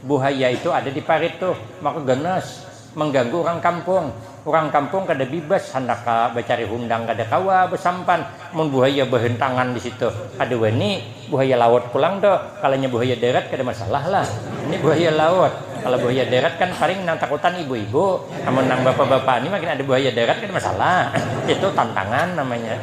Buhaya itu ada di parit tuh, maka ganas, mangganggu urang kampung. Urang kampung kada bibas handak ka bacari hundang kada kawa basampan mun buhaya bahentangan di situ. Kada wani, buhaya laut pulang tuh, kalanya buhaya darat kada masalah lah. Ini buhaya laut, kalo buhaya darat kan paling nang takutan ibu-ibu, amun nang bapa-bapa ni makin ada buhaya darat kada masalah. Itu tantangan namanya,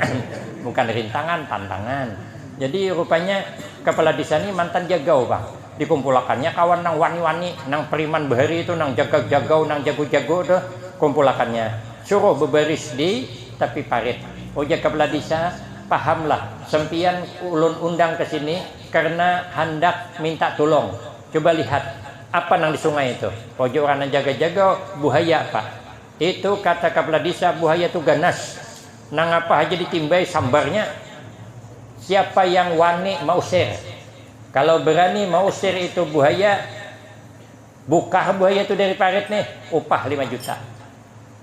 bukan rintangan, tantangan. Jadi rupanya kapala desa ni mantan jagau pang. Dikumpulakannya kawan nang wani-wani, nang priman bahari itu, nang jagag-jagau, nang jago-jago itu, kumpulakannya. Suruh bebaris di tapi parit. Ujar Kepala Desa, Pahamlah, sempiyan ulun undang ke sini karena handak minta tulung. Cuba lihat, apa nang di sungai itu? Ujar urang nang jaga-jagau, Buhaya, Pak. Itu, kata Kepala Desa, buhaya itu ganas. Nangapa haja ditimbai sambarnya. Siapa yang wani mausir? Kalau berani mausir itu buhaya, bukah buhaya tu dari parit nih, upah lima juta.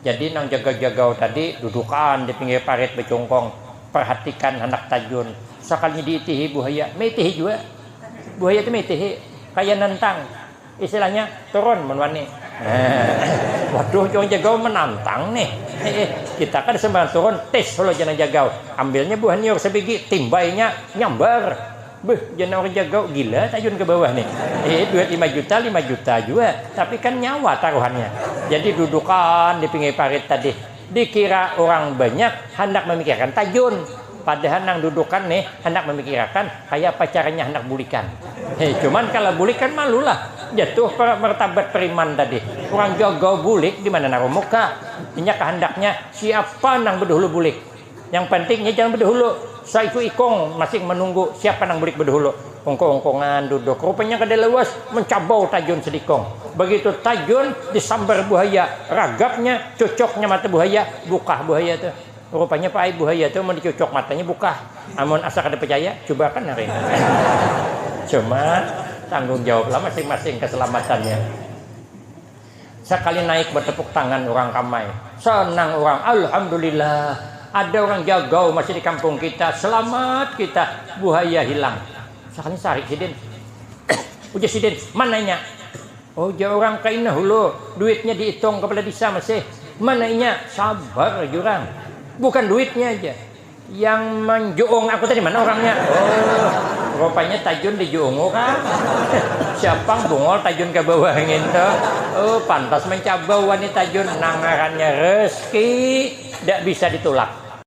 Jadi nang jagau-jagau tadi dudukan di pinggir parit bacungkung, parhatikan handak tajun. Sakalinya diitihi buhaya, maitihi jua. Buhaya tu maitihi, kaya nantang. Istilahnya turun mun wani. Waduh urang Jagau menantang nih. Kita kada sembarang turun, tis hulu jar nang Jagau. Ambilnya buah nyiur sabigi, timbainya, nyambar. Beuh jar nang urang Jagau, gila tayun ka bawah nih. Duit lima juta, lima juta jua, tapi kan nyawa taruhannya. Jadi dudukan di pinggir parit tadi. Dikira urang banyak handak mamikirakan tajun, padahal nang dudukan ne handak mamikirakan kayapa caranya handak bulikan. He, cuman kala bulik kan malu lah, jatuh martabat preman tadi. Urang jaga bulik dimana narumu ka. Inya kahandaknya siapa nang bedahulu bulik. Yang panting nya jangan bedahulu, saiku ikung masing manunggu siapa nang bulik bedahulu. Ungkung-ungkungan duduk, rupanya kada lawas mancabau tajun sedikung. Begitu tajun disambar buhaya, ragapnya, cucuknya mata buhaya, bukah buhaya tu. Rupanya paaib buhaya tu mun dicucuk matanya bukah. Amun asa kada pacaya, cubakan hari ini. Cuma, tanggung jawablah masing-masing kasalamatannya. Sakali naik batepuk tangan urang ramai. Senang urang, Alhamdulillah ada urang jagau masjid di kampung kita, selamat kita buhaya hilang. Sakalinya sarik sidin. Ujar sidin, mana inya? Ujar urang, kaina hulu duitnya diitung kapala disa masih. Mana inya? Sabar jurang, bukan duitnya haja. Yang manjuung aku tadi mana urangnya? Oh, rupanya tajun di juungu kah? Siapang bungol tajun ka bawah ngintu. Oh, pantas mancabau wani tajun nang ngarannya rezki ndak bisa ditulak.